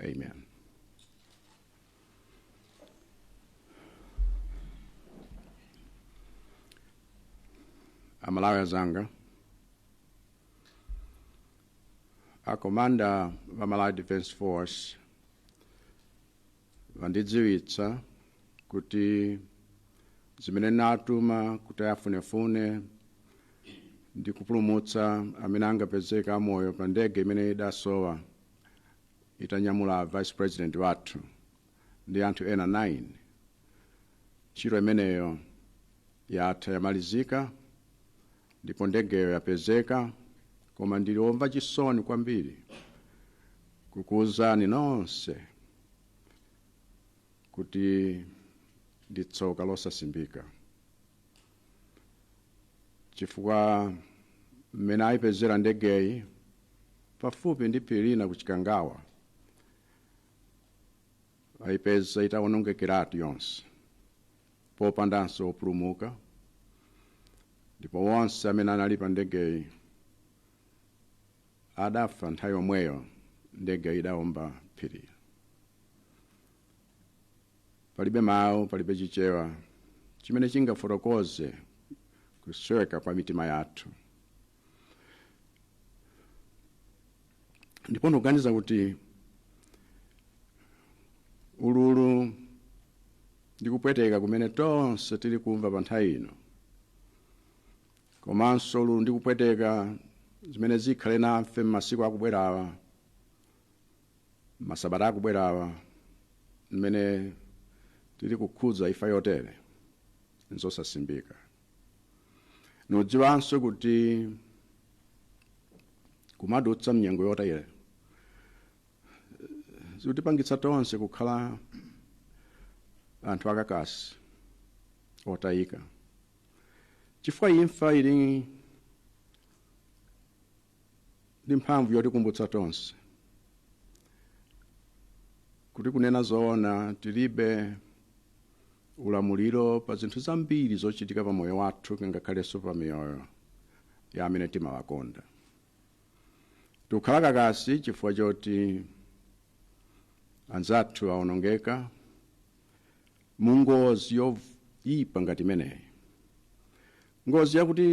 Amen. amalawi azanga akomanda wa malawi defense force wandidziwitsa kuti zimene ndinatuma kuti afunefune ndi kupulumutsa amene angapezeka amoyo pa ndege imene idasowa itanyamula vice president wathu ndi anthu ena 9 ntchito imeneyo yatha yamalizika ndipo ndegeyo yapezeka koma ndili omva chisoni kwambiri kukuwuzani nonse kuti ndi tsoka losasimbika chifukwa mmene ayipezera ndegeyi pafupi ndi phiri lina ku chikangawa ayipeza itawonongekeratu yonse popandanso opulumuka ndipo onse amene anali pa ndegeyi adafa nthawi yomweyo ndegeyi idaomba phiri palibe mawu palibe chichewa chimene chingafotokoze kusweka kwa mitima yathu ndipo ndikuganiza kuti ululu ndi kupweteka kumene tonse tili kumva pa nthawi ino komanso ululu ndi kupweteka zimene zikhale nafe m'masiku akubwerawa masabata akubwerawa mmene tili kukhuza imfa yotere nzosasimbika ndidziwanso kuti kumadutsa mnyengo yotere zikutipangitsa tonse kukhala anthu akakasi otayika chifukwa imfa ili ndi mphamvu yotikumbutsa tonse kuti kunena zoona tilibe ulamuliro pa zinthu zambiri zochitika pa moyo wathu ngakhalenso pa miyoyo ya amene timawakonda tikukhala kakasi chifukwa choti anzathu awonongeka mu ngozi yoyipa ngati imeneyi ngozi yakuti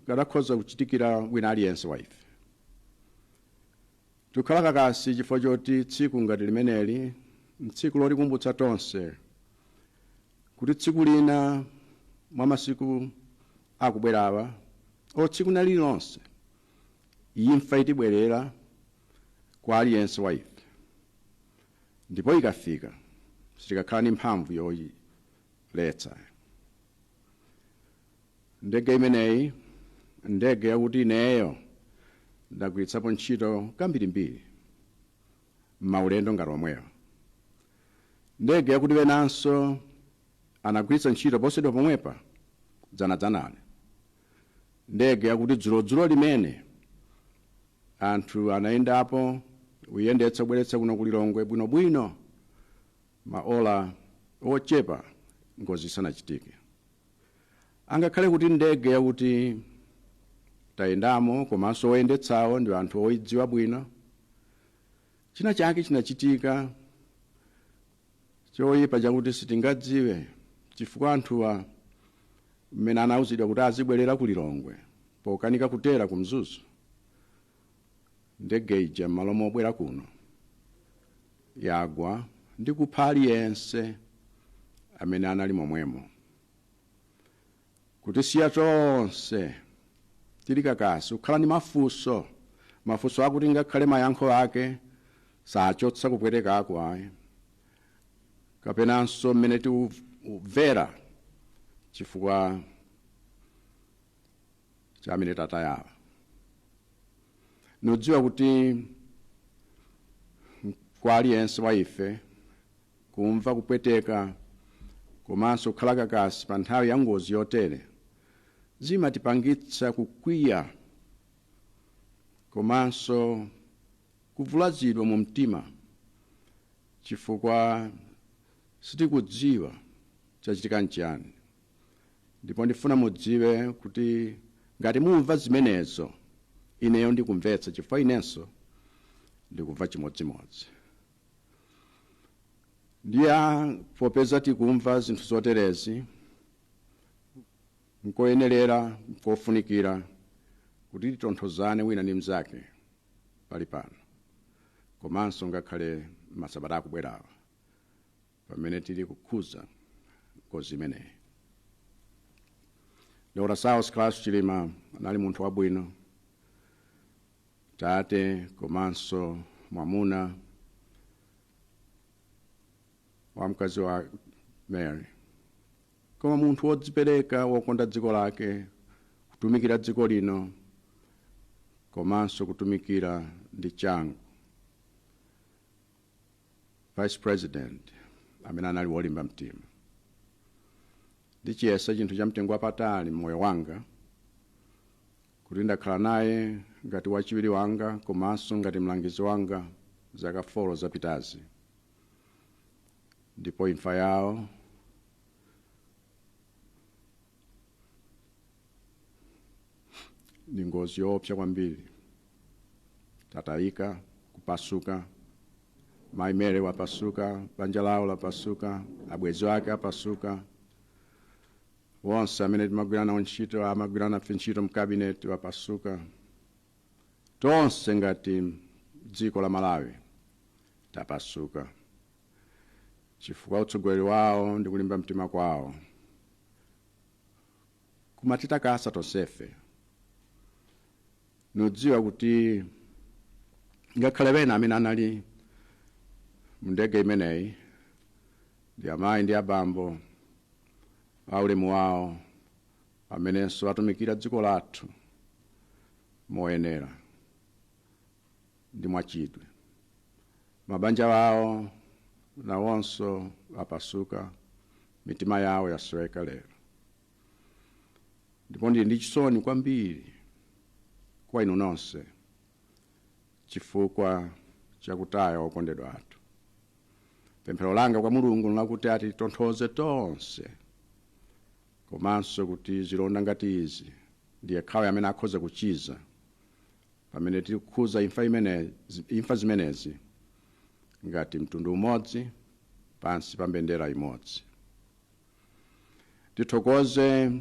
ikadakhoza kuchitikira wina aliyense wa ife Tikukhala kakasi chifukwa choti tsiku ngati limeneli n'tsiku lotikumbutsa tonse kuti tsiku lina mwa masiku akubwerawa, olo tsiku lina lililonse, imfa itibwerera kwa aliyense wa ife. Ndipo ikafika, sitikakhala ndi mphamvu yoiletsa. Ndege imeneyi ndege yakuti ineyo ndagwiritsapo ntchito kambirimbiri m'maulendo ngati omwewa. Ndege yakuti enanso anagwiritsa ntchito posachedwa pomwepa dzanadzanali. Ndege yakuti dzulodzuloli mmene anthu anayendapo kuyendetsa kubweretsa kuno ku Lilongwe bwinobwino maola ochepa ngozi isanachitike. Angakhale kuti ndege yakuti tayendamo komanso oyendetsawo ndi anthu oyidziwa bwino, china chake chinachitika choyipa chakuti sitingadziwe chifukwa anthuwa mmene anawuzidwa kuti azibwerera ku Lilongwe pokanika kutera ku Mzuzu. ndege ija m'malo mobwera kuno yagwa ndi kupha aliyense amene anali momwemo kutisiya tonse tili kakasi kukhala ndi mafunso mafunso akuti ngakhale mayankho ake sachotsa kupwetekako ayi kapenanso mmene tikumvera chifukwa cha amene tatayawo ndidziwa kuti kwa aliyense wa ife kumva kupweteka komanso kukhala kakasi pa nthawi ya ngozi yotere zimatipangitsa kukwiya komanso kuvulazidwa mu mtima chifukwa sitikudziwa chachitika nchiyani Ndipo ndifuna mudziwe kuti ngati mumva zimenezo, ineyo ndikumvetsa chifukwa inenso ndikumva chimodzimodzi. Ndiye popeza tikumva zinthu zoterezi, nkoyenerera, nkofunikira kuti titonthozane wina ndi mnzake palipano komanso ngakhale masabata akubwerawa pamene tili kukhuza ngozi imeneyi dr saulos klaus chilima anali munthu wabwino tate komanso mwamuna wa mkazi wawo mary koma munthu wodzipereka wokonda dziko lake kutumikira dziko lino komanso kutumikira ndi changu vice president amene anali wolimba mtima ndichiyesa chinthu cha mtengo wapatali mmoyo wanga kuti ndakhala naye ngati wachiwiri wanga komanso ngati mlangizi wanga zaka folo zapitazi ndipo imfa yawo ndi ngozi yoopsa kwambiri ndatayika kupasuka mayi Mary wapasuka banja lawo lapasuka abwenzi ake apasuka onse amene timagwira nawo ntchito amagwira nafe ntchito mkabineti wapasuka tonse ngati dziko la malawi tapasuka chifukwa utsogoleri wawo ndi kulimba mtima kwawo kumatitakasa tonsefe ndidziwa kuti ngakhale ena amene anali mndege imeneyi ndi amayi ndi abambo aulemu wawo amenenso atumikira dziko lathu moyenera ndi mwachidwi mabanja wawo nawonso apasuka Mitima yawo yasweka lero, ndipo ndili ndi chisoni kwambiri kwa inu nonse chifukwa cha kutaya okondedwa athu. Pemphero langa kwa Mulungu nlakuti atitonthoze tonse, komanso kuti zilonda ngati izi ndi yekhayo amene akhoza kuchiza. pamene tiri kukhuza imfa imenezi, imfa zimenezi ngati mtundu umodzi pansi pa mbendera imodzi tithokoze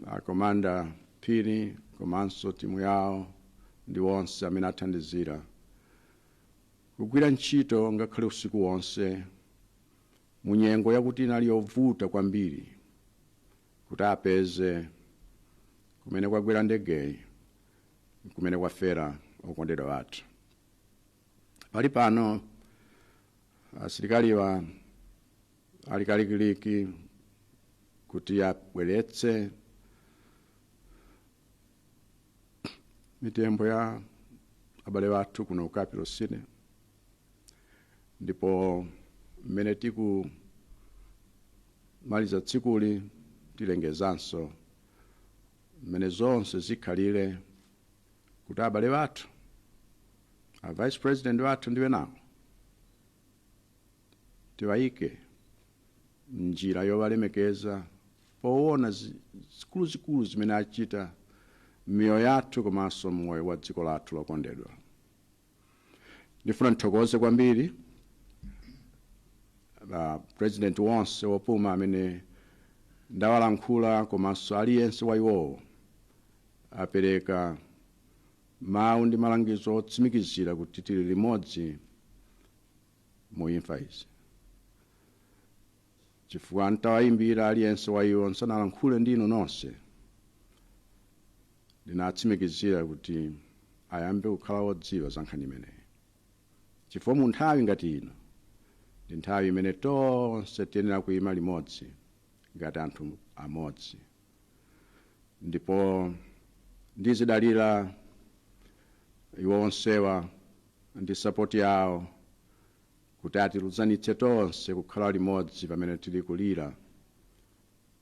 akomanda phiri komanso timu yawo ndi onse amene athandizira kugwira ntchito ngakhale usiku wonse mu nyengo yakuti inali yovuta kwambiri kuti apeze kumene kwagwera ndegeyi kumene kwafera okondedwa athu pali pano asilikaliwa ali kalikiliki kuti abweretse mitembo ya abale athu kuno ku capital city ndipo mmene tikumaliza tsikuli tilengezanso mmene zonse zikhalire kuti abale athu a vice president wathu ndi enawo tiwayike njira yowalemekeza powona zi- zikuluzikulu zimene achita m'miyoyo yathu komanso m'moyo wa dziko lathu lokondedwa ndifuna ndithokoze kwambiri a president onse opuma amene ndawalankhula komanso aliyense wa iwowo apereka mawu ndi malangizo otsimikizira kuti tili limodzi mu imfa izi chifukwa nditawayimbira aliyense wa iwo ndisanalankhule ndi inu nonse ndinatsimikizira kuti ayambe kukhala wodziwa za nkhani imeneyi chifukwa mu nthawi ngati ino ndi nthawi imene tonse tiyenera kuyima limodzi ngati anthu amodzi ndipo ndizidalira iwo onsewa ndi sapoti yawo kuti atilunzanitse tonse kukhala limodzi pamene tili kulira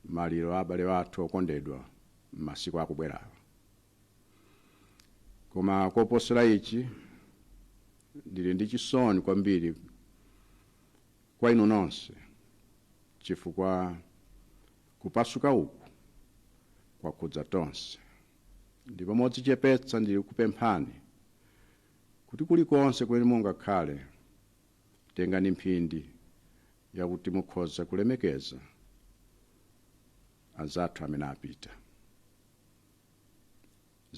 maliro a abale athu okondedwa m'masiku akubwerawa. Koma koposera ichi, ndili ndi chisoni kwambiri kwa inu nonse chifukwa kupasuka uku kwakhudza tonse ndipo modzichepetsa ndili kupemphani kuti kulikonse kumene mungakhale, tengani mphindi yakuti mukhoza kulemekeza anzathu amene apita.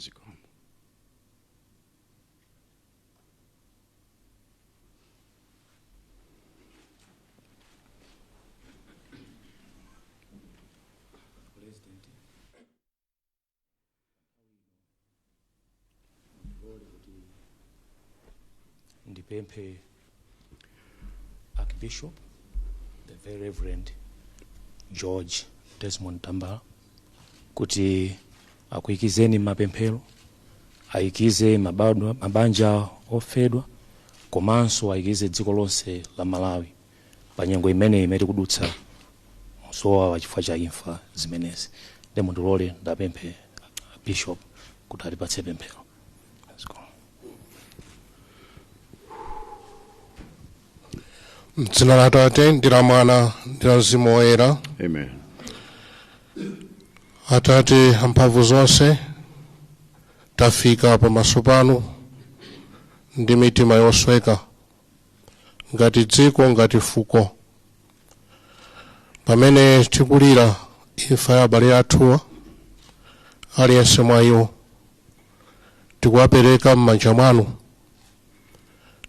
Zikomo. ndipemphe archbishop the very reverend george desmond tambala kuti akuyikizeni m'mapemphero ayikize mabadwa- mabanja ofedwa komanso ayikize dziko lonse la malawi pa nyengo imeneyi imene tikudutsa m'zowawa chifukwa cha imfa zimenezi nde mundilole ndiwapemphe abishop kuti atipatse pemphero Zikomo. mdzina la atate ndi la mwana ndi la mzimu woyera Amen. atate amphamvu zonse tafika pamaso panu ndi mitima yosweka ngati dziko ngati fuko pamene tikulira imfa ya abale athuwa aliyense mwa iwo tikuwapereka m'manja mwanu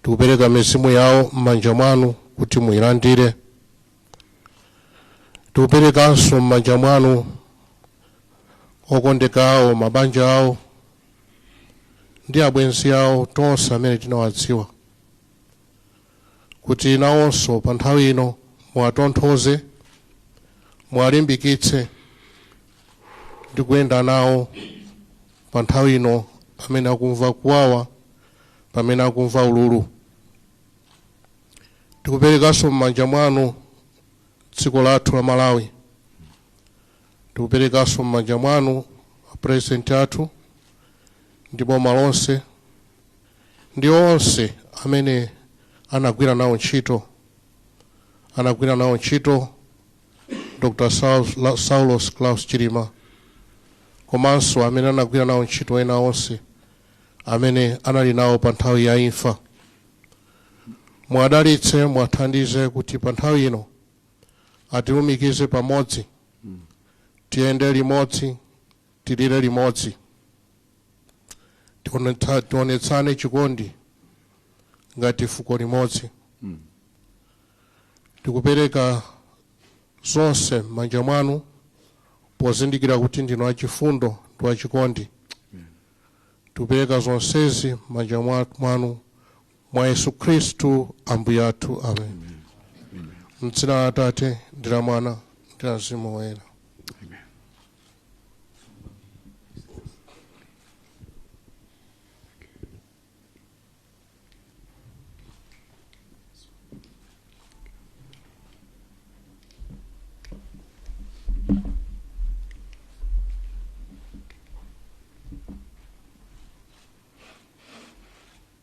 tikupereka mizimu yawo m'manja mwanu kuti muyilandire tikuperekanso m'manja mwanu okondedwa awo mabanja awo ndi abwenzi awo tonse amene tinawadziwa kuti nawonso pa nthawi ino muwatonthoze muwalimbikitse ndi kuyenda nawo pa nthawi ino amene akumva kuwawa pamene akumva ululu tikuperekanso m'manja mwanu dziko lathu la malawi tikuperekanso m'manja mwanu apuresidenti athu ndi boma lonse ndi onse amene anagwira nawo ntchito anagwira nawo ntchito dr Saus- La- saulos klaus chilima komanso amene anagwira nawo ntchito ena onse amene anali nawo pa nthawi ya imfa muwadalitse muwathandize kuti pa nthawi ino atilumikize pamodzi tiyende limodzi tilire limodzi Tionetsa- tionetsane chikondi ngati fuko limodzi tikupereka zonse m'manja mwanu pozindikira kuti ndinu wachifundo ndi wachikondi tikupereka zonsezi m'manja mwa- mwanu mwa Yesu Khristu Ambuye athu, amen. M'dzina la Atate ndi la Mwana ndi la Mzimu Woyera.